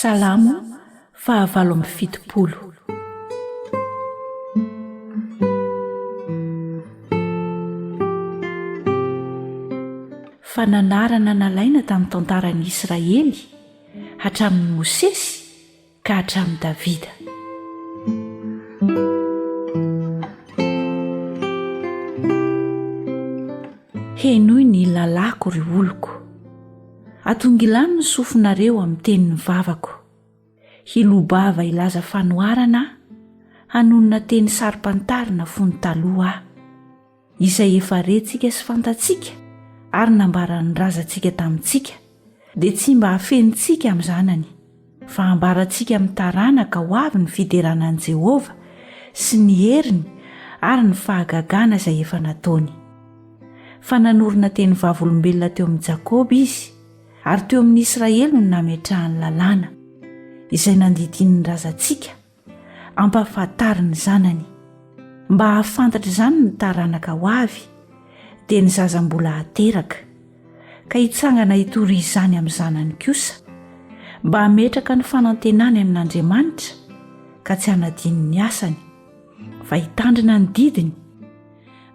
Salamo fahavalo amby fitopolo. Fananarana nalaina tamin'ny tantaran'ny Israely hatramin'ny Mosesy ka hatramin'i Davida. Henoy ny lalàko ry oloko. Atongilano ny sofinareo amin'ny tenin'ny vavako. Hiloa-bava hilaza fanoharana aho, hanonona teny saro-pantarina fony taloha aho, izay efa rentsika sy fantatsika ary nambaran'ny razantsika tamintsika, dia tsy mba hafenintsika amin'ny zanany. fa hambarantsika amin'ny taranaka ho avy ny fiderana an'i Jehovah sy ny heriny ary ny fahagagana izay efa nataony. Fa nanorina teny vavolombelona teo amin'i Jakoba izy, ary teo amin'ny Israely no nametrahany lalàna, izay nandidiany ny razantsika, ampahafantariny zanany mba hahafantatra izany ny taranaka ho avy dia ny zaza mbola hateraka ka hitsangana hitory izany amin'ny zanany kosa mba hametraka ny fanantenany amin'andriamanitra ka tsy hanadino ny asany fa hitandrina ny didiny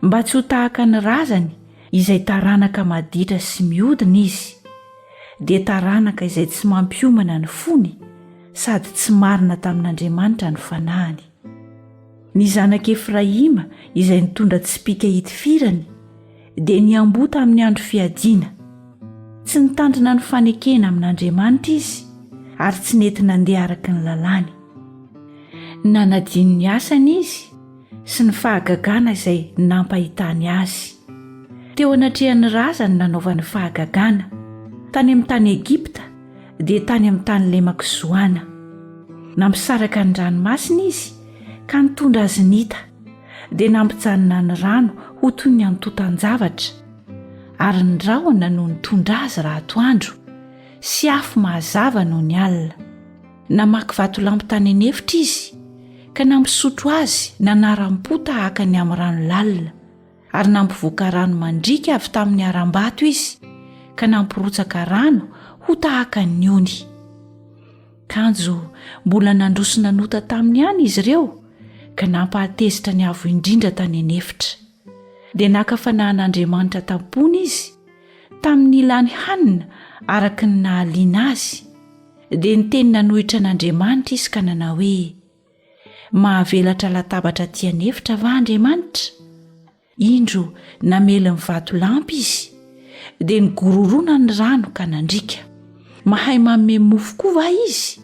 mba tsy ho tahaka ny razany izay taranaka maditra sy miodina izy dia taranaka izay tsy mampiomana ny fony sady tsy marina tamin'andriamanitra ny fanahiny ny zanak' efraima izay nitondra tsipika hitifirany dia niamboa tamin'ny andro fiadiana tsy nitandrina ny fanekena amin'andriamanitra izy ary tsy nety nandeha araka ny lalàny nanadino ny asany izy sy ny fahagagana izay nampahitany azy. Teo anatrehan'ny razany nanaovany fahagagana, tany amin'ny tany Egypta, dia tany amin'ny tany lemak'i Zoana. Nampisaraka ny ranomasina izy ka nitondra azy nita, dia nampijanona ny rano ho toy ny antontan-javatra, ary ny rahona no nitondra azy raha atoandro, sy afo mahazava nony alina. Namaky vatolampy tany an'efitra izy ka nampisotro azy nanaram-po tahaka ny amin'ny rano lalina ary nampivoaka rano mandriaka avy tamin'ny harambato izy ka nampirotsaka rano ho tahaka ny ony kanjo mbola nandrosona nota tamin'ny any izy ireo ka nampahatezitra ny avo indrindra tany an'efitra dia naka fanahin'Andriamanitra tam-pony izy tamin'ny nilany hanina araka ny nahaliana azy, dia niteny nanohitra an'Andriamanitra izy ka nanao hoe, Mahavelatra latabatra aty an'efitra va Andriamanitra? Indro namely ny vatolampy izy, dia nigororona ny rano ka nandriaka. Mahay manome mofo koa va izy?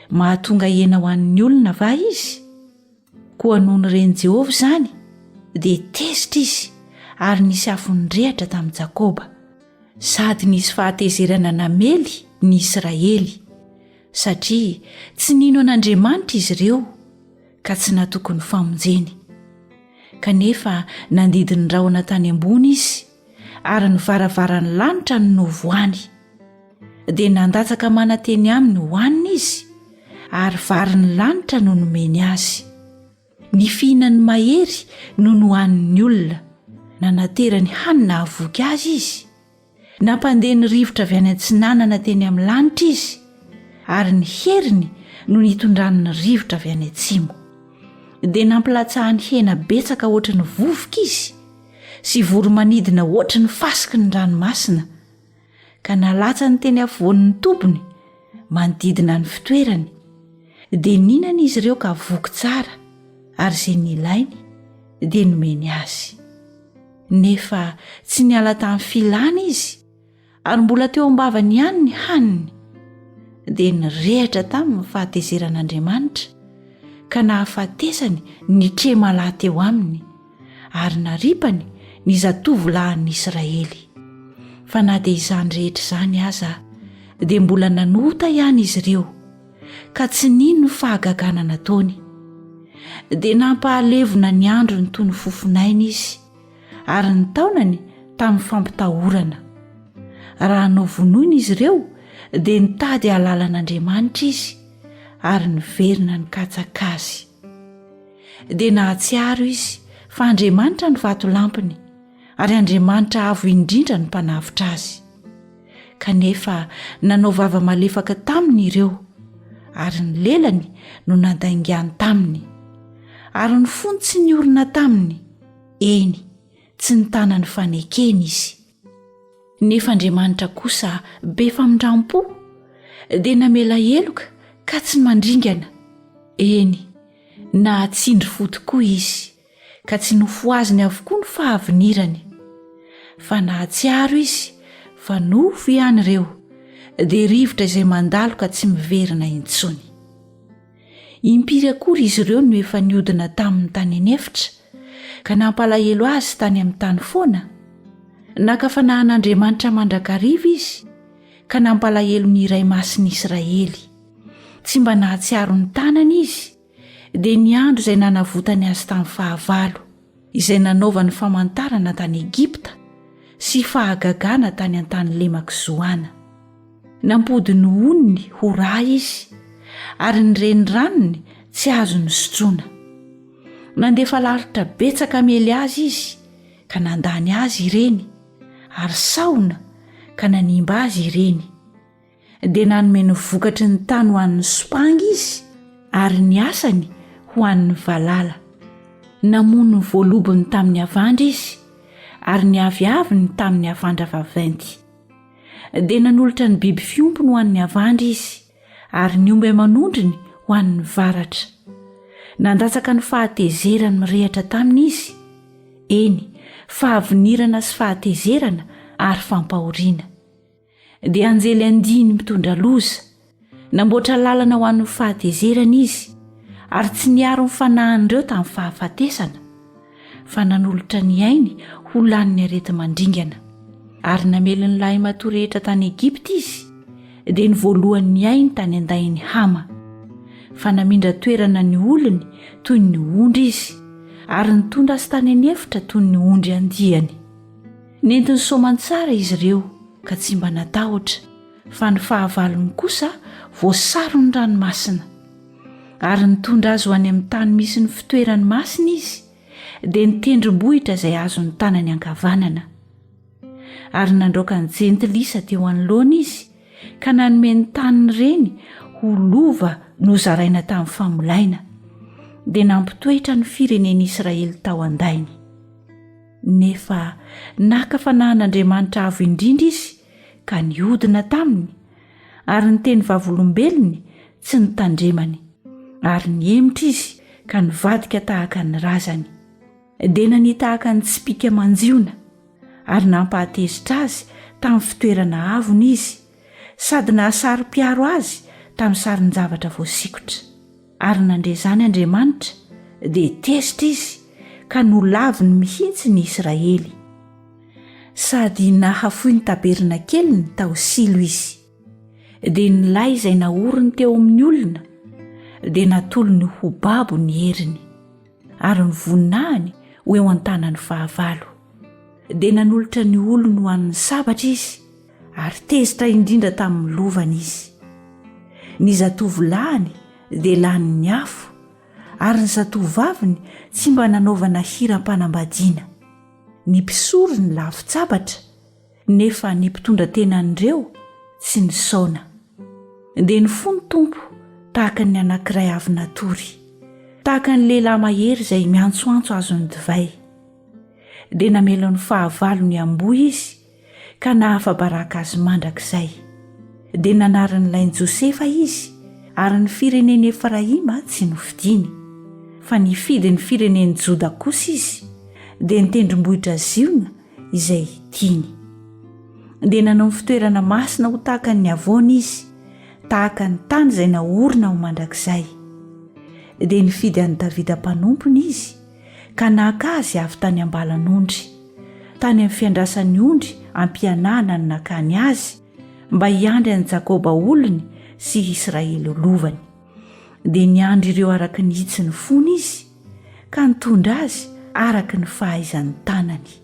Mahatonga hena ho an'ny olona va izy? Koa noho ny ren'i Jehovah izany, dia tezitra izy ary nisy afo nirehitra tamin'i Jakoba, sady nisy fahatezerana namely ny Israely, satria tsy nino an'Andriamanitra izy ireo, ka tsy natoky ny famonjeny. Kanefa nandidy ny rahona tany ambony izy, ary ny varavaran'ny lanitra no novohany dia nandatsaka mananteny aminy hohanina izy ary varin'ny lanitra no nomeny azy ny fihinan'ny mahery no nohanin'ny olona nanaterany hanina havoky azy izy nampandeha ny rivotra avy any an-tsinanana teny amin'ny lanitra izy ary ny heriny no nitondran'ny rivotra avy any an-tsimo dia nampilatsahany hena betsaka ohatry ny vovoka izy sy vory manidina hoatry ny fasiky ny ranomasina, ka nalatsany teny afovoan'ny tobiny manodidina ny fitoerany, dia nihinana izy ireo ka voky tsara, ary izay nilainy dia nomeny azy. Nefa tsy niala tamin'ny filany izy, Ary mbola teo am-bavany ihany ny haniny, dia nirehatra taminy ny fahatezeran'Andriamanitra ka nahafatesany ny tremalahy teo aminy ary naripany ny zatovolahin'ny Israely. Fa na dia izany rehetra izany aza dia mbola nanota ihany izy ireo ka tsy nino ny fahagagana nataony. Dia nampahalevona ny androny toy ny fofon'aina izy. ary ny taonany tamin'ny fampitahorana. Raha novonoina izy ireo, dia nitady hahalala an'Andriamanitra izy, ary niverina nikatsaka azy. Dia nahatsiaro izy fa Andriamanitra no vatolampiny, ary Andriamanitra avo indrindra no mpanavotra azy. Kanefa nanao vava malefaka taminy ireo, ary ny lelany no nandaingany taminy, ary ny fony tsy niorina taminy. Eny, tsy nitana ny fanekeny izy. Nefa Andriamanitra kosa be famindram-po, dia namela heloka ka tsy mandringana, eny, nahatsindry fo tokoa izy, ka tsy nofohaziny avokoa ny fahavinirany. Fa nahatsiaro izy fa nofo ihany ireo, dia rivotra izay mandalo ka tsy miverina intsony. Impiry akory izy ireo no efa niodina tamin'ny tany anefitra, ka nampalahelo azy tany amin'ny tany foana? Naka fanahin'Andriamanitra mandrakariva izy, ka nampalahelo ny Iray Masin'ny Israely. Tsy mba nahatsiaro ny tanany izy, dia ny andro izay nanavotany azy tamin'ny fahavalo. izay nanaovany famantarana tany Egypta sy fahagagana tany an-tany lemak'i Zoana. Nampody ny onony ho rà izy ary ny reniranony tsy azo nosotroina. Nandefa lalitra betsaka hamely azy izy ka nandany azy ireny ary sahona ka nanimba azy ireny. dia nanome ny vokatry ny tany ho an'ny sopanga izy ary ny asany ho an'ny valala namono ny voalobony tamin'ny avandra izy ary ny aviavy ny tamin'ny avandra vaventy dia nanolotra ny biby fiompony ho an'ny avandra izy ary ny omba amanondriny ho an'ny varatra nandatsaka ny fahatezerany mirehatra taminy izy eny fahavinirana sy fahatezerana ary fampahoriana dia anjely andiany mitondra loza. Namboatra lalana ho an'ny fahatezerana izy, ary tsy niaro ny fanahin'ireo tamin'ny fahafatesana, fa nanolotra ny ainy ho lanin'ny areti-mandringana. Ary namely ny lahimatoa rehetra tany Egypta izy, dia ny voalohan'ny ainy tany an-dahin'i Hama. Fa namindra toerana ny olony toy ny ondry izy, ary nitondra azy tany an'efitra toy ny ondry andiany. Nentin'ny soamantsara izy ireo ka tsy mba natahotra, fa ny fahavalony kosa voasaron'ny ranomasina. Ary nitondra azy ho any amin'ny tany misy ny fitoerany masina izy, dia ny tendrombohitra izay azon'ny tanany ankavanana. Ary nandraoka ny jentilisa teo anoloany izy, ka nanome ny taniny ireny ho lova nozaraina tamin'ny famolaina, dia nampitoetra ny firenen'Israely tao an-dainy. Nefa naka fanahin'Andriamanitra Avo Indrindra izy ka nihodina taminy, ary ny teny vavolombelony tsy notandremany, ary nihemotra izy ka nivadika tahaka ny razany. Dia nania tahaka ny tsipìka manjiona, ary nampahatezitra azy tamin'ny fitoerana avony izy, sady nahasaro-piaro azy tamin'ny sarin-javatra voasikotra. Ary nandre izany Andriamanitra, dia tezitra izy ka nolaviny mihitsy ny Israely. Sady nahafoy ny tabernakeliny tao Silo izy. Dia ny lay izay naoriny teo amin'ny olona dia natolony ho babo ny heriny, ary ny voninahiny ho eo an-tanan'ny fahavalo. Dia nanolotra ny olony ho an'ny sabatra izy, ary tezitra indrindra tamin'ny lovany izy. Ny zatovolahyny dia lanin'ny afo, ary ny zatovovaviny tsy mba nanaovana hiram-panambadiana. Ny mpisory ny lavin-tsabatra, nefa ny mpitondra tena an'ireo tsy nisaona. Dia ny fo ny Tompo tahaka ny anankiray avy natory, tahaka ny lehilahy mahery izay miantsoantso azon'ny divay. Dia namelony fahavalo ny amboa izy, ka nahafa-baraka azy mandrakizay. Dia nanarin'ny lainy Josefa izy, ary ny firenen'i Efraima tsy nofidiny. Fa nifidy ny firenen'i Joda kosa izy, dia ny tendrombohitra Ziona izay tiany. Dia nanao ny fitoerana masina ho tahaka ny havoana izy, tahaka ny tany izay naorina ho mandrakizay. Dia nifidy an'i Davida mpanompony izy, ka naka azy avy tany am-balan'ondry, tany amin'ny fiandrasan'ny ondry am-pianahana no nakany azy, mba hiandry an'i Jakoba olony sy i Israely lovany. Dia niandry ireo araka ny hitsin'ny fony izy, ka nitondra azy araka ny fahaizan'ny tanany.